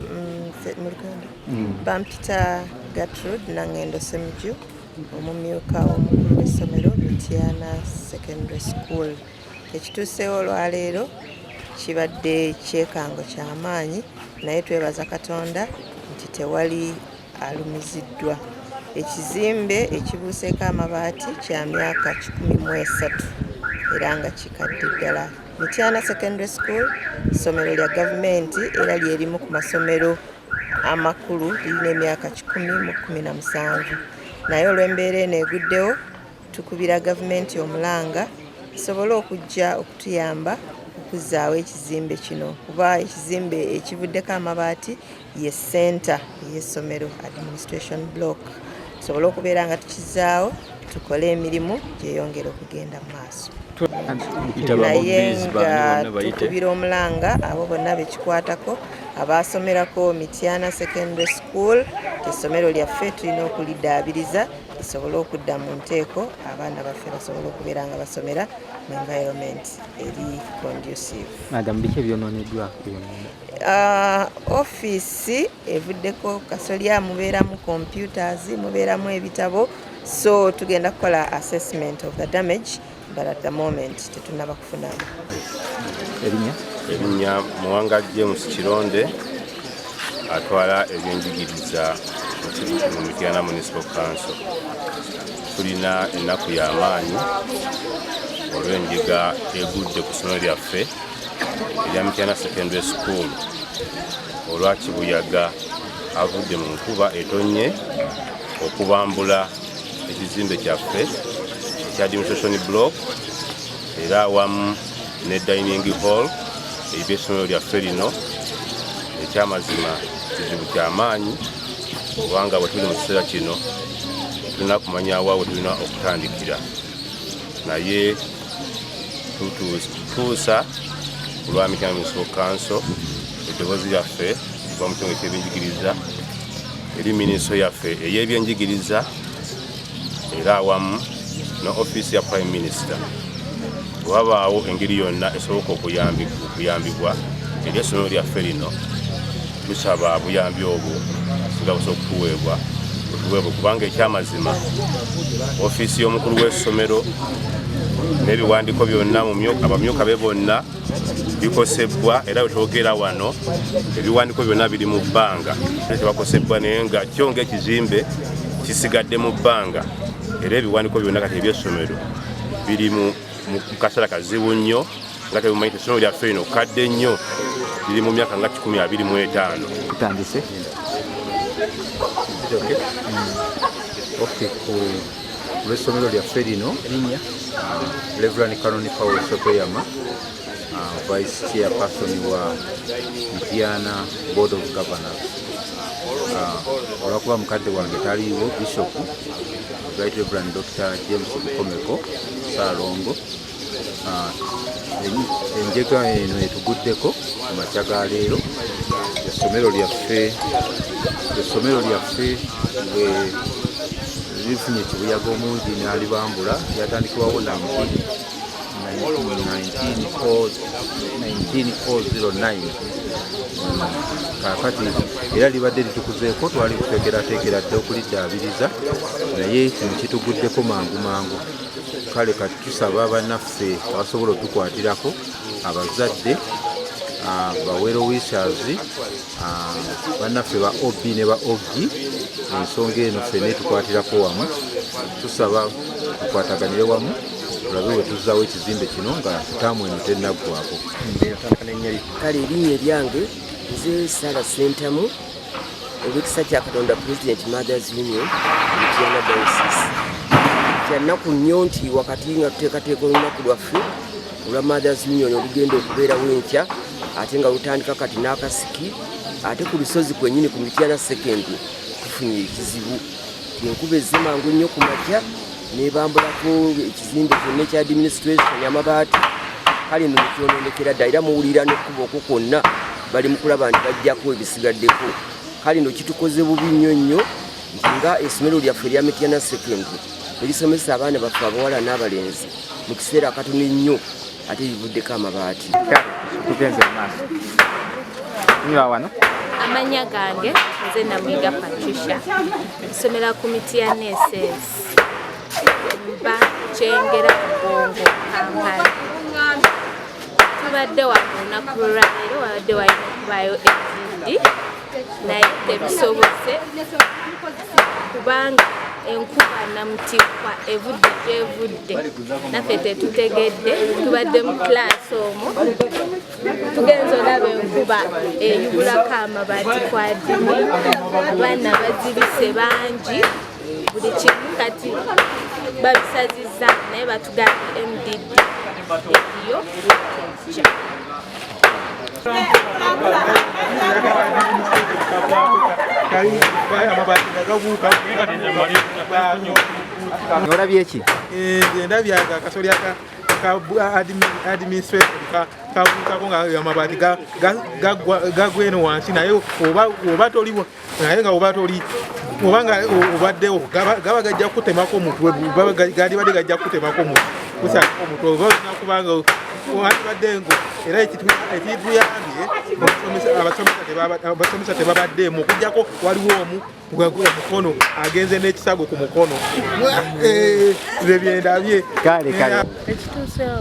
mu luganda mm. bampita gatrud nangendo semuju omumyuka omukulu w'essomero mityana secondary school ekituuseewo olwaleero kibadde kyekango kyamaanyi naye twebaza katonda nti tewali alumiziddwa. Ekizimbe ekibuuseeko amabaati kya myaka kikumi mu esatu era nga kikadde ddala. Mityana Secondary School ssomero lya gavumenti era lye limu ku masomero amakulu lirina emyaka kikumi mu kumi na musanvu naye olw'embeera eno eguddewo tukubira gavumenti omulanga esobole okujja okutuyamba okuzzaawo ekizimbe kino kuba ekizimbe ekivuddeko amabaati ye senta yesomero administration block tusobole okubeera nga tukizaawo tukole emirimu gyeyongera okugenda mu maaso naye nga tukubira omulanga abo bonna bekikwatako abaasomerako mityana secondary school esomero lyaffe tulina okulidaabiriza lisobole okudda mu nteeko abaana baffe basobole okubeera nga basomera mu environment eri conducive Uh, ofiisi evuddeko kasolya mubeeramu computers mubeeramu ebitabo so tugenda kukola assessment of the damage but at the moment tetunaba kufunamu erinya erinya muwanga james kironde atwala ebyenjigiriza mu mityana municipal council tulina ennaku y'amaanyi olw'endiga egudde ku ssomero lyaffe ya Mityana Secondary School olwa kibuyaga avudde mu nkuba etonnye okubambula ekizimbe kyaffe ekya demonstration block era awamu ne dining hall eriba essomero lyaffe lino ekyamazima kizibu kyamaanyi kubanga bwe tuli mu kiseera kino tulina kumanya wa we tulina okutandikira naye tutuusa ku lwa mityana munisipal kanso eddoboozi lyaffe okuva mu kitundu ky'ebyenjigiriza eri minisitule yaffe ey'ebyenjigiriza era awamu ne ofiisi ya prime minister wabaawo engeri yonna esoboka okuyambibwa eri essomero lyaffe lino Tusaba buyambi obwo nga busa okutuweebwa otuweebwe kubanga ekyamazima ofiisi y'omukulu w'essomero n'ebiwandiiko byonna abamyuka be bonna bikosebbwa era wetwogera wano ebiwandiiko byonna biri mu bbanga tebakosebbwa naye nga kyo ngaekizimbe kisigadde mu bbanga era ebiwandiiko byonna kati ebyessomero biri mu mu kaseera kazibu nnyo nga tebumanyi essomero lyaffe lino kadde nnyo liri mu myaka nga kikumi abiri mu etaano tutandise olwessomero lyaffe lino reverani canon paul sotoyama uh, vice chair person wa mpiana board of governors uh, olwakuba mukadde wange taliiwo bishop right reverand dr james bukomeko Salongo ah, enjega eno etuguddeko mu makya ga leero essomero lyaffe essomero lyaffe lifunye ekibuyaga omungi nalibambula lyatandikibwawo nambi 1909 kaakati era libadde litukuzeeko twali tutekerateekera dda okuliddaabiriza naye kino kituguddeko mangu mangu kale kati tusaba banaffe abasobola otukwatirako abazadde ah, bawero wishers ah, banaffe ba ob ne ba og ensonga eno ffe netukwatirako wamu tusaba tukwataganire wamu tulabe wetuzawo ekizimbe kino nga taamu eno tenaggwako kale erinnya eryange nze sara sentamu owekisa kya katonda president mothers union mutiana diosis kyannaku nnyo nti wakati nga tuteekateeka olunaku lwaffe olwa mothers union olugenda okubeerawo enkya ate nga lutandika kati n'akasiki ate ku lusozi kwenyini ku mityana sekendi tufunye ekizibu enkuba ezze mangu nnyo ku makya nebambulako ekizimbe kyonna ekya administration amabaati kale no mukyononekera dda era muwulira nekuba okwo kwonna bali mukulaba nti bajjako ebisigaddeko kale no kitukoze bubi nnyo nnyo nti nga esomero lyaffe erya mityana secondary erisomesa abaana baffe abawala n'abalenzi mu kiseera akatono ennyo ate livuddeko amabaati tugenze mu maaso nywa wano amanya gange nze namwiga patricia nsomera ku miti ya neses mba kyengera mugongo kampala tubadde wa ku lunaku lwaleero wabadde walina okubaayo ekindi naye tebisobose kubanga enkuba namutikwa evudde gyevudde naffe tetutegedde tubadde mu kilaasi omwo tugenza olaba enkuba eyubulako amabaati kwadini abaana bazibise bangi buli kimu kati babisazizza naye batugambye mdd yo olabye ki endabye eh, akasoli aka administration kabuukako nga amabaati gagwa eno wansi naye oba toliwo naye nga oba toli obanga obaddewo gaba gajja kukutemako omutwe galibadde gajja kukutemako omutwe oba olina kubanga wandibadde ngo era ekituyambye abasomesa tebabaddeemu okujjako waliwo omu omukono agenze n'ekisago ku mukono eh, byebyendabye kale kale ekituusewo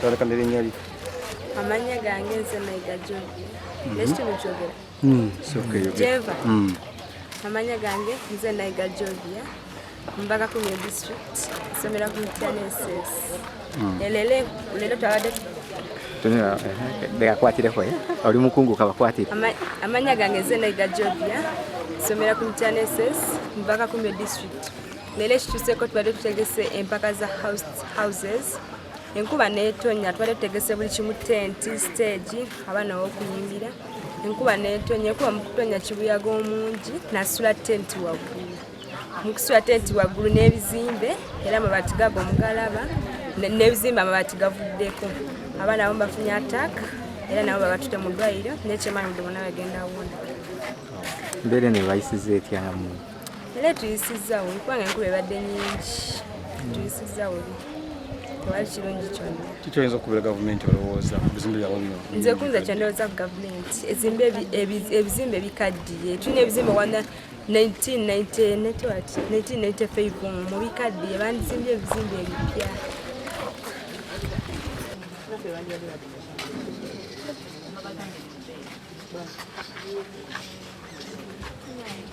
twalekana erinnya lyo amannya gange nze mayiga john mhm. nekitundu kyogera hmm, jeva hmm. amannya gange nze nayiga jovia mbaga kumye district somera ku mutyaneses hmm. elele lero twabadde bekakwatireko eh, eh. oli mukungu kabakwatire amannya gange nze nayiga jovia somera ku mutyaneses mbaga kumye district Leero ekituseeko tubadde tutegese empaka za houses enkuba netonya twali tutegese buli kimu tenti stage abaana wokuyimbira enkuba netonya enkuba mukutonya kibuyaga omungi nasula tenti waggulu mukusula tenti waggulu n'ebizimbe era amabati gago mugalaba n'ebizimbe amabati gavuddeko abaana abamu bafunye attack era nabo babatute mu ddwaliro nekyemanyi buli bona bagenda wona mbeera nebayisiza etyamu Leero tuyisizza bubi kubanga enkuba ebadde nyingi hmm. tuyisizza bubi tewali kirungi kyonna kiki oyinza okubeera gavumenti olowooza bizimbe byabo bino nze kunza kyondowooza ku gavumenti ezimbe ebizimbe bikaddiye tulina ebizimbe wana 1995 mu bikaddiye bandizimbye ebizimbe ebipya Thank you.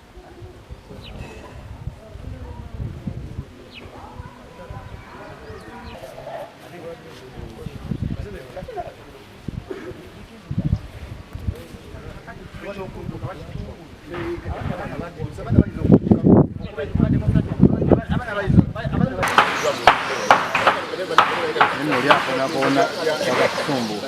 Neno lyakonakona wakatusumbuka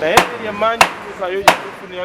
naye yemanyi kuzayo yekufunira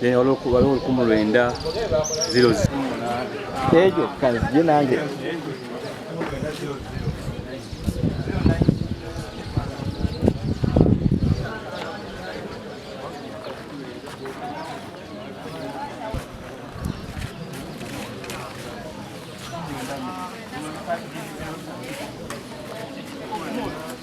then waliwo olukumu lwenda zero ejo kanzije nange Thank you.